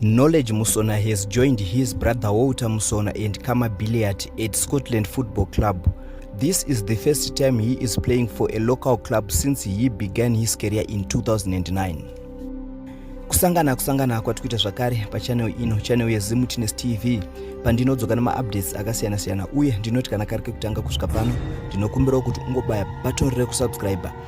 Knowledge Musona has joined his brother Walter Musona and Kama Billiat at Scotland Football Club. This is the first time he is playing for a local club since he began his career in 2009. kusangana kusangana kwati kuita zvakare pachanel ino chanel yezimutines tv pandinodzoka nemaupdates akasiyana-siyana uye ndinoti kana kari kekutanga kusvika pano ndinokumbirawo kuti ungobaya button rekusubscriber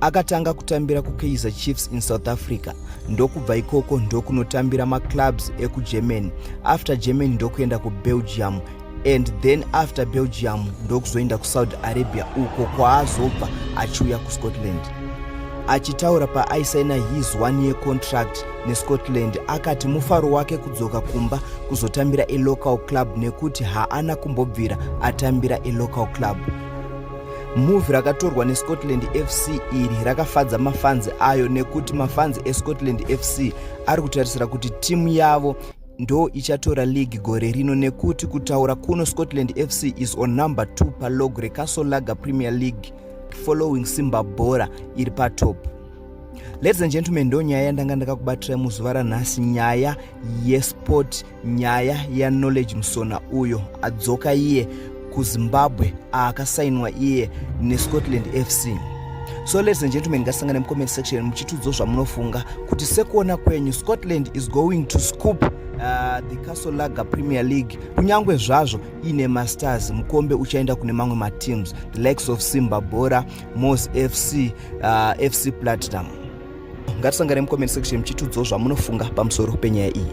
Akatanga kutambira kuKaizer Chiefs in South Africa ndokubva ikoko ndokunotambira maclubs ekuGermany after Germany ndokuenda kuBelgium and then after Belgium ndokuzoenda kuSaudi Arabia uko kwaazobva achiuya kuScotland. Achitaura paaisaina his one year contract neScotland akati mufaro wake kudzoka kumba kuzotambira elocal club nekuti haana kumbobvira atambira elocal club. Move rakatorwa neScotland FC iri rakafadza mafanzi ayo nekuti mafanzi eScotland FC ari kutarisira kuti timu yavo ndo ichatora league gore rino nekuti kutaura kuno Scotland FC is on number 2 palog reCastle Lager Premier League following Simba Bora iri patop. Ladies and gentlemen, ndo nyaya yandanga ndakakubatirai muzuva ranhasi nyaya yesport nyaya yaknowledge musona uyo adzoka iye kuzimbabwe aakasainwa iye nescotland fc so ladies and gentlemen ngasangane mucomment section muchitudzo zvamunofunga kuti sekuona kwenyu scotland is going to scoop uh, the castle lager premier league kunyange zvazvo iine masters mukombe uchaenda kune mamwe mateams the likes of simba bora mos fc uh, fc platinum ngatisangane mucomment section muchitudzawo zvamunofunga pamusoro penyaya iyi